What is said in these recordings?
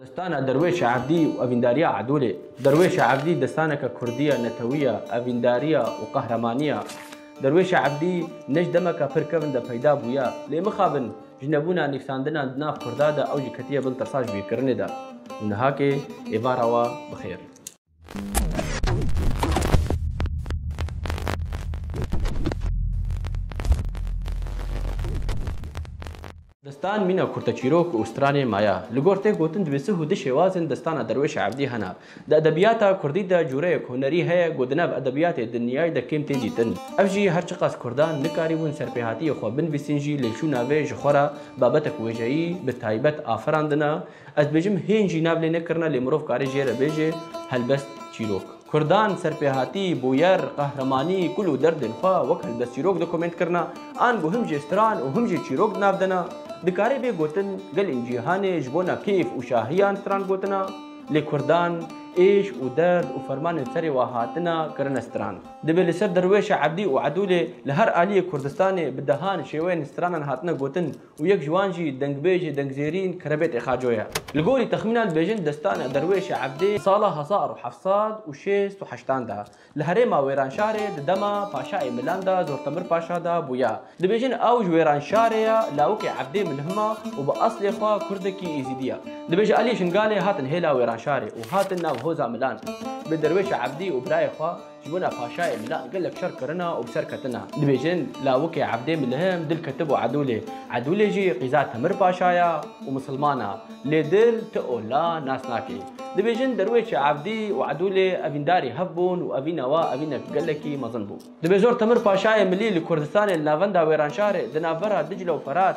Destana Derwêşa Evdî û Evîndariya Adolê Derwêşa Evdî destaneke kurdî ye, netewî ye, evîndarî ye û qehremanî ye. Derwêşa Evdî ne ji demeke pir kevn de peyda bûye. Lê mixabin ji nebûna nivîsandinan di nav kurda de ew jî ketiye bin tasajbîrkirinê de û nihakê êvara we bi xêr. Destan mîna kurteçîrok û stranên maya. Li gor tê gotin divê sih û di şêwazên destana Derwêşa Evdî hene. Di edebiyata Kurdî de cureyek hunerî heye ku di nav edebiyatê dinyayî de kêm tê dîtin. Ev jî her çiqas Kurdan nikarîbûn serpêhatiyê xwe binvîsîn jî lê çûna vê ji xwe re babetek wêjeyî bi taybet afirandina, Ez dibêjim hîn jî nav lê nekirine lê mirov kare jê re bêje helbest çîrok. Kurdan serpêhatî, bûyer, qehremanî, kul û derdên xwe wek helbest çîrok di komênt kirina, ango him jê stran û him jê çîrok di nav dena. Dikare bê gotin gelên cîhanê ji bona kêf û şahiyan stran gotina, lê kurdan êş û derd û fermanên serê wan hatina kirine stran. Dibê li ser derwêşa ebdî û edûlê li her aliyê Kurdistanê bi dehan şêweyên stranan hatine gotin û yek ji wan jî dengbêjê dengzêrîn Kerebêtê Xaco ye. Li gorî texmînan dibêjin destana Derwêşê Ebdê sala hezar û heft sad û şêst û heştan de li herêma Wêranşarê di dema paşayê Milan de Zortemir Paşa de bûye. Dibêjin ew ji Wêranşarê ye, lawikê Ebdê Milhima û bi eslê xwe kurdekî Êzîdî ye. Dibêje aliyê Şingalê hatin hêla Wêranşarê û hatin nav hoza Milan bi Derwêşê Ebdî û birayê xwe, Ji bona paşayê bila gelek şer kirina û bi ser ketina. Dibêjin lawikê Ebdê Milihim dil ketibû Edûlê. Edûlê jî qîza Temir Paşa ya û misilman a. Lê dil ti û la nas nake. Dibêjin derwêşê Ebdî û Edûlê evîndarî hev bûn û evîna wa evînek gelekî mezin bû. Dibêjin Temir Paşayê Milî li Kurdistanê li navenda Wêranşarê di navbera Dicla û Ferat,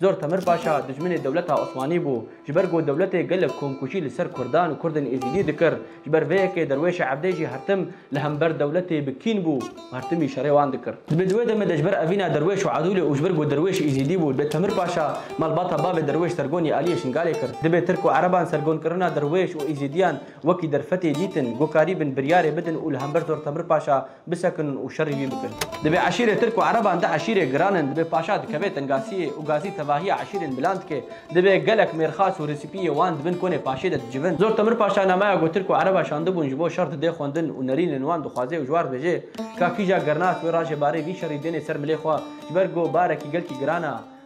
Zor Temir Paşa dijminê dewleta Osmanî bû. Ji ber ku dewletê gelek komkûjî li ser Kurdan û Kurdên Êzîdî dikir, ji ber vê yekê derwêşa evdê jî hertim li hember dewletê bi kîn bû û hertimî şerê wan dikir. Dibê di wê demê de ji ber evîna derwêş û edûlê û ji ber ku derwêş Êzîdî bû, dibê Temir Paşa malbata bavê derwêş Sergonî Aliyê Şingalê kir. Dibê Tirk û Ereban sergonkirina derwêş û Êzîdiyan wekî derfetê dîtin, ku karî bin biryarê bidin û li hember Zor Temir Paşa, bisekin û şerî wî bikin. Divê eşîrê tirk û ereban di eşîrê giran in, divê paşa dikeve tin gasiyê û gasî tevahiya eşîrên milan dike, divê gelek mêrxas û resîpiyê wan di bin konê paşê de dicivin. Zor Temir Paşa namaya ku tirk û ereba şandibûn ji bo şer didê xwendin û nerînên wan dixwaze û ji wan dibêje, ka kîja gernak wê rajê barê vî şerî dênê ser milê xwe, ji ber ku barekî gelkî giran a,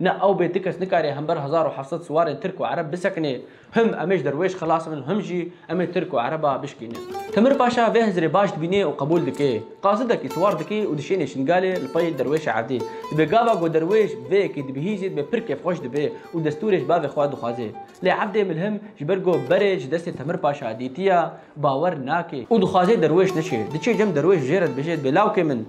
Ne ew bê ti kes nikarê hember hezar û heft sed siwarên Tirk û Ereb bisekinê. Him em ê ji derwêş xilas bin û him jî em ê Tirk û Ereba bişkînin. Timir Paşa vê hizirê baş dibînê û qebûl dike. Qasidekî siwar dike û dişênê Şingalê li pey derwêşa erdê. Dibê gava ku derwêş bi vê yekê dibihîzê dibê pir kêfxweş dibe û destûrê ji bavê xwe dixwaze. Lê evdê milhim ji ber ku berê ji destê Timir Paşa dîtiye, bawer nake. Û dixwaze derwêş neçe. Diçe cem derwêş bi jê re dibêje dibê lawkê min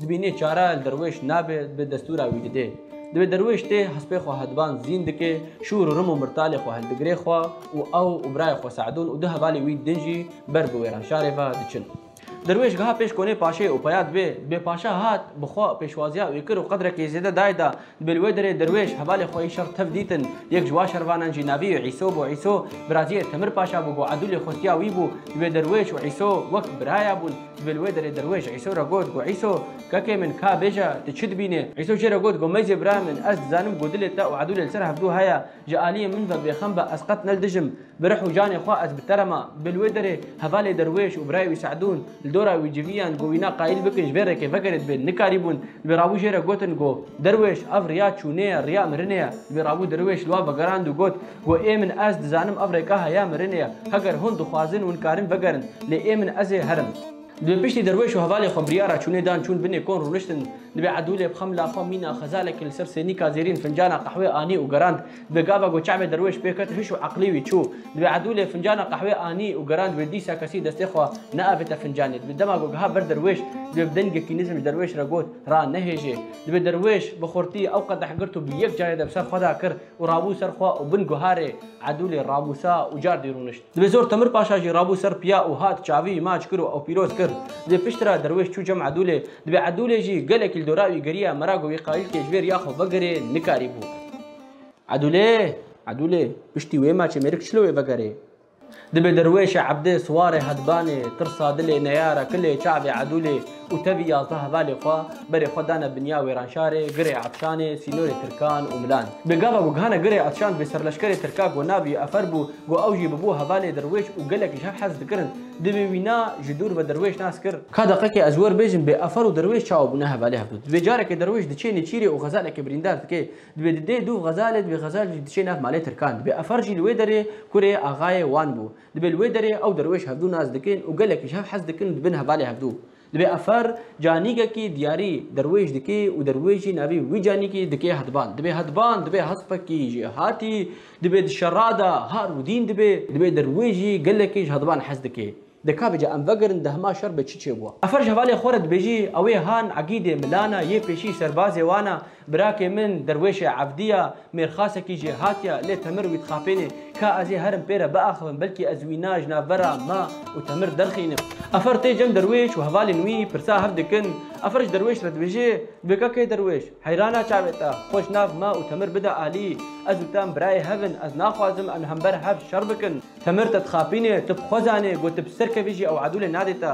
Dibî nê çare li derwêş nabe, dibe destûra wî dide. Dibe derwêş tê hespê xwe hediban zîn dike, şûr û rim û mirtalê xwe hildigire xwe û ew û birayê xwe Se'dûn û du hevalê wî din jî ber bi wêranşarê ve diçin. Derwêş geha pêş konê paşê û peya dibe, Bê paşa hat, bi xwe pêşwaziya wî kir û qedrekê zêde dayê da. Dibê li wê derê derwêş hevalê xwe yê şer tev dîtin. Yek ji wan şervanan jî navê yê Îso bû. Îso biraziyê Temir Paşa bû, bo Edûlê xustiya wî bû. Dibê derwêş û Îso wek biraya bûn. Dibê li wê derê derwêş Îso re got ku Îso, kekê min, ka bêje, tu çi dibînî? Îso jê re got ku mecê birayê min, ez dizanim ku dilê te û Edûlê li ser hevdû heye. Ji aliyê min ve bêxem be, ez qet ne li dijim. Bi rih û canê xwe ez bi te re ma. Bi li wê derê hevalê Derwêş û birayê wî Se'dûn li dora wî civiyan ku wîna qayîl bikin ji vê rêkê vegerê dibên nikarîbûn. Li bê rabû jê re gotin ku Derwêş ev riya çûnê ye, riya mirinê ye. Li bê rabû Derwêş li wan vegerand û got ku ê min ez dizanim ev rêka heya mirinê ye. Heger hûn dixwazin hûn karin vegerin. Lê ê min ez ê herim. Li piştî derweş û hevalê xwe biryara çûnê dan çûn binê kon rûniştin. Divê Edûlê bi xemla xwe mîna xezalekî li ser sênîka zêrîn fincana qehwê anî û gerand. Divê gava ku çavê derweş pê ket hiş û eqlî wî çû. Divê Edûlê fincana qehwê anî û gerand wê dîsa kesî destê xwe neavête fincanê. Divê dema ku giha ber derweş divê bi dengekî nizm ji derweş re got, Ra nehêjê. Divê derweş bi xurtî ew qedeh girt û bi yek carê de bi ser xwe da kir. û rabû ser xwe û bin guharê Edûlê ramûsa û cardî rûnişt. Divê zor Temir Paşa jî rabû ser piya û hat çavî maç kir û ew pîroz kir. Divê pişt re derwêş çû cem Edûlê. Divê Edûlê jî gelekî li dora wî geriya mera ku wî qayil kê ji vê riya xwe vegerê nikarîbû. Edûlê! Edûlê! Piştî wê maçê mêrik çilo wê vegerê. Dibe derwêşe Ebdê, Siwarê, Hedbanê, Tirsa, Dilê, Neyara, Kilê, Çavê, Edûlê û tevî yazdeh hevalê xwe berê xwe dane binya Wêranşarê, Girê Etşanê, sînorê Tirkan û Milan. Bi gava ku gihane Girê Etşan bi serleşkerê Tirka ku navî Efer bû ku ew jî bibû hevalê derwêş û gelek ji hev hez dikirin. Divê wî na ji dûr ve derwêş nas kir. Ka deqekê ez werbêjim bê Efer û derwêş çawa bûne hevalê hev dû. Divê carekê derwêş diçê nêçîrê û xezalekê birîndar dike. Dibê di dê dûv xezalê, dibê xezal jî diçê nav malê Tirkan. Dibê Efar jî li wê derê kurê axayê wan bû. Dibê li wê derê ew derwêş hevdû nas dikin û gelekî ji hev hez dikin û dibin hevalê hevdû. Dibê Efar canîgekî diyarî derwêş dikê û derwêş jî navî wî canîkî dikê Hedban. Dibê Hedban, dibê Hespekî jî hatî. Dibê di şerada har û dîn dibê. Dibê derwêş jî gelekî ji Hedban hez dikê. De ka bica em vegirin di hema şer be çi çêbûa. Efer ji hevalê xwe re dibêjî ew ê han Egîdê milan e, yê pêşî serbazê wan e, birakê min derwêşê evdî ye, mêrxasekî jê hatiye, lê Temir wî dixapênê, ka ez ê herim pê re biaxivim, belkî ez wî na ji navbera me û Temir derxînim. Efer tê cem derwêş û hevalên wî pirsa hev dikin. Efer ji derwêş re dibêjê, Dibê ka kê derwêş, heyrana çavê te, xwe ji nav me û Temir bide alî. Ez û te em birayê hev in, ez naxwazim em li hember hev şer bikin. Temir te dixapîne, tu bi xwe zanê ku tu bi ser kevî jî ew edûlê nadê te.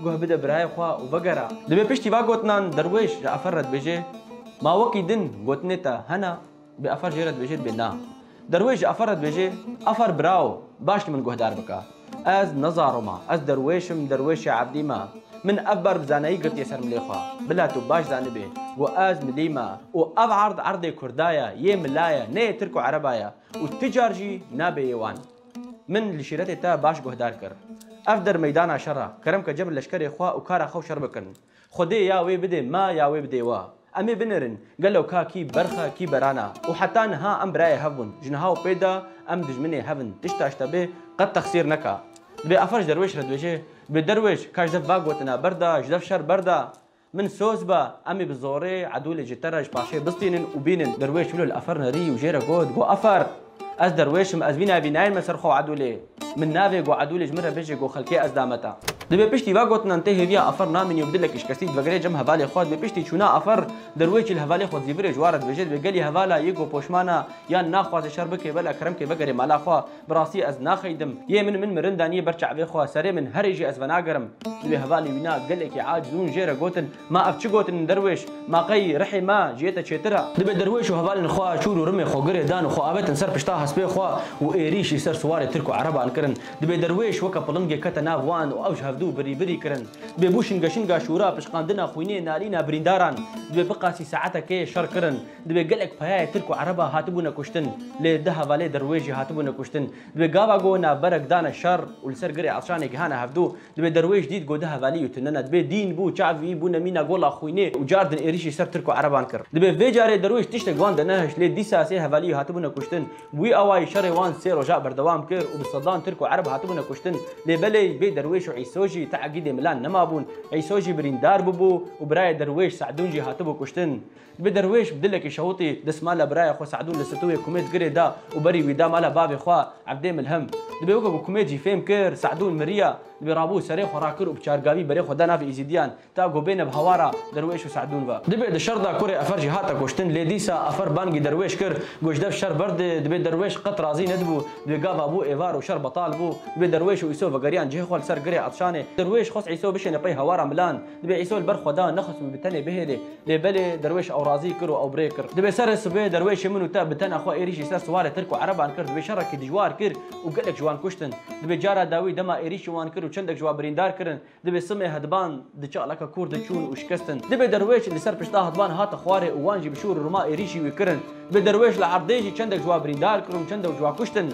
Guh bide birayê xwe û vegere. Divê piştî van gotinan derwêş ji efer re dibêje, Ma wekî din gotinê te hene, bê efer jê re dibêje dibê na. Derwêş ji efer re dibêje, Efer birawo, baş li min guhdar bike. Ez ne zaro me, ez derwêş im, derwêşê ebdî me. Min ev ber bi zanayî girtiye ser milê xwe. Bila tu baş zanibê ku ez milî me û ev erd erdê kurda ye, yê mila ye, ne yê tirk û ereba ye. Û ti car jî nabê yê wan. Min li şîretê te baş guhdar kir. Ev der meydana şer e. Kerem ke cebir leşkerê xwe û kara xwe û şer bikin. Xwedê ya wê bidê me ya wê bidê we. Em ê binêrin gelo ka kî berx e kî beran e. Û heta niha em birayê hev bûn. Ji niha û pê de em dijminê hev in. Tişta ji te bê qet texsîr neke. Dibê afer ji derwêş re dibêje, Bêderwêş, ka ji dev va gotina berda, ji dev şer berda. Min soz be, em ê bi zorê Edûlê ji te re ji paşê bistînin û bînin. Derwêş wilo li Efer nerî û jê re got, Go Efer! Ez derwêş im, ez vî navî nayên me ser xwe Edûlê. Min navê Go Edûlê ji min re bijî, Go Xelkê ez dame te. Di bê piştî vegotinan tê hêviya Efer namînî û bi dilek îşkestî divegire cem hevalê xwe. Di bê piştî çûna Efer, derwêşî li hevalê xwe dizîvirê ji wan re dibêje, Dibê gelî hevala yê Go poşman e, yan naxwaze şer bike, bela kerem ke vegerê mala xwe. Bi rastî ez naxeydim. Yê min min mirin danî ber çavê xwe, serê min herê jî ez venagerim. Di wê hevalê wî na gelekî aciz hûn jê re gotin, Ma ev çi gotin in derwêş? Ma qey rihê me ji yê te çêtir e? Dibe derwêş û hevalên xwe çûr û rimê xwe girê dan û xwe avetin ser pişta hespê xwe û êrîş î ser siwarê tirk û ereban kirin. Dibê derwêş weke pilingê kete nav wan û ew ji hevdu birî birî kirin. Dibê bû şinge şinga şûra, pişqandina xwînê, nalîna birîndaran. Dibê biqasî saetekê şer kirin. Divê gelek payayê Tirk û Ereba hatibûne kuştin, lê di hevalê dir wê jî hatibûne kuştin. Divê gava go navberek dane şer û li ser girê Elşanê gihane hevdu, divê derwêş dît go di hevalî yutinine, divê dîn bû, çavî, bûne mîna gola xwînê û car din êrîşî ser Tirk û Ereban kir. Divê vê carê derwêş tiştek wan dinehişt, lê dîsa sê hevalî hatibûne kuştin. Bi wî awayî şerê wan sê roja berdewam kir û bi sedan Tirk û Ereb hatibûne kuştin, lê belê vê derwêş û Îso jî te'gîdê milan nemabûn. Îso jî birîndar bûbû û birayê derwêş Se'dûn jî hatibû kuştin. Bi derwêş bi dilekî şewitî destmala biraya xwe Se'dûn li stûyê Kumêd girê da û berî wî da mala bavê xwe Ebdê Milhim. Dibê weke ku Kumêd jî fêm kir Se'dûn miriya, dibê rabû serê xwe rakir û bi çargavî berê xwe da navê Îzîdiyan ta ku bêne bi hawara derwêş û Se'dûn ve. Dibê di şer da kurê Efer jî hate kuştin lê dîsa Efer bangî derwêş kir got ji dev şer berdê, dibê derwêş qet razî nedibû, dibê gava bû êvar û şer betal bû. Dibê derwêş û Îso vegeriyan cihê xwe li ser girê Etşanê. Derwêş xwest Îso bişêne pey hawara milan. Dibê Îsa li ber xwe da nexistin û bi tenê bihêlê. Lê belê derwêş ew razî kir û ew bi rê kir. Dibê serê sibê derwêşê min û te bi tena xwe êrîş ji ser siwarê Tirk û Ereban kir. Dibê şerekî dijwar kir û gelek ji wan kuştin. Dibê cara dawî dema êrîş ji wan kir û çendek ji wan birîndar kirin. Dibê simê hediban di çalaka kûr de çûn û şikestin. Dibê derwêş li ser pişta hediban hate xwarê û wan jî bi şûr û rima êrîşî wî kirin. Dibê derwêş li erdê jî çendek ji wan birîndar kir û çendek ji wan kuştin.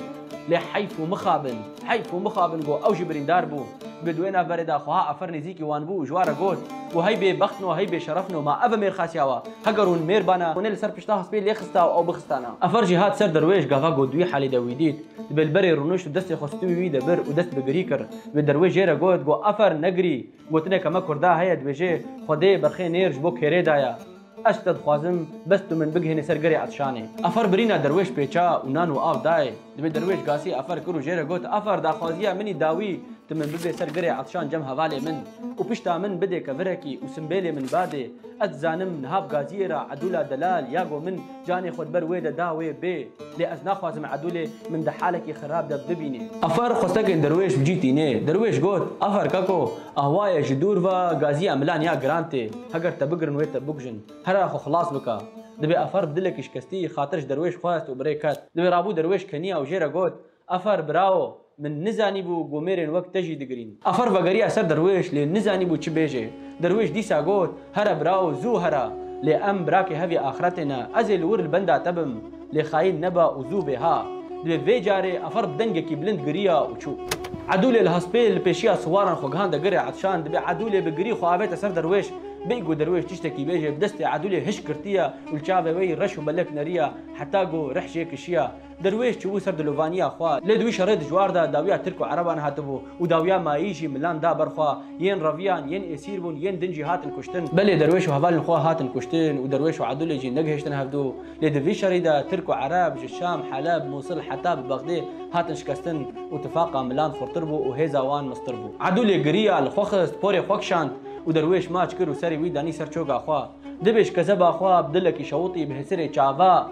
Lê heyf û mixabin, heyf û mixabin got ew jî birîndar bû. Bi duwê navberê de xweha Afer nêzîkî wan bû û ji wan re got, Û hey bêbextin û hey bêşerefin û ma ev e mêrxasiya we. Heger hûn mêr bane, hûnê li ser pişta hespê lê xista û ew bixistane. Afer jî hat ser derwêş, gava got wî halê de wî dît. Dibê li berê rûnişt û destê xwe stûyî wî de bir û dest bi girî kir. Wê derwêş jê re got, got Afer negirî! Gotineke me kurda heye dibêje, Xwedê berxê nêr ji bo kêrê daye. Ez ji te dixwazim bes tu min bigihînî ser gerê Etişanê. Afer birîna derwêş pêça û nan û av dayê. Divê derwêş gasî afer kir û jê re got, Afer daxwaziya min î dawî, tu min bibê ser gerê Etişan cem hevalê min û pişta min bidê kevirekî û simbêlê min badê. Ez dizanim niha bi gaziyê re Edûla Delal ya go min, Canê xwe di ber wê de da wê bê. Lê ez naxwazim Edûlê min di halekî xirab de bibîne. Afer xwestekên Derwêş bi cî tîne. Derwêş got, Afer Kako, ahwa ye ji dûr ve gazîya milan ya giran tê. Heger te bigirin wê te bikujin. Herra xwe xilas bike. Divê Afer bi dilekî şikestî xatir ji Derwêş xwest û bi rê ket. Divê rabû Derwêş keniya û jê re got, Afar bravo, min nizanîbû ku mêrên wek te jî digirîn. Afar vegerî eser derwêş lê nizanîbû çi bêjê. Derwêş dîsa got, Here bravo, zû here. Lê em birakê hevî axretê ne. Ez ê li wir li benda te bim. Lê xayîn nebe û zû bê ha. Divê vê carê Afar bi dengekî bilind giriya û çû. Edûlê li hespê li pêşiya siwaran xwe gihande girê Etşan. Divê Edûlê bi girî xwe avête ser derwêş. Bê ku derwêş tiştekî bêjê, bi destê Edûlê hişk girtiye û li çavê wê yî reş û belek neriye heta ku rih jê kişiye. Derwêş çûbû ser dilovaniya xwe, lê di wî şerê dijwar de dawiya Tirk û Ereban hatibû û dawiya mayî jî milan da ber xwe, yên reviyan, yên esîr bûn, yên din jî hatin kuştin. Belê derwêş û hevalên xwe hatin kuştin û derwêş û Edûlê jî negihiştin hevdu, lê di vî şerî de Tirk û Ereb ji Şam, Heleb, Mûsil heta bi Bexdê hatin şikestin û tifaqa milan xurtir bû û hêza wan miztir bû. Edûlê giriya, li xwe xist, porê xwe kişand û derwêş maç kir û serê wî danî ser çoga xwe. Dibêj kezeba xwe bi dilekî şewitî bi hisirê çava.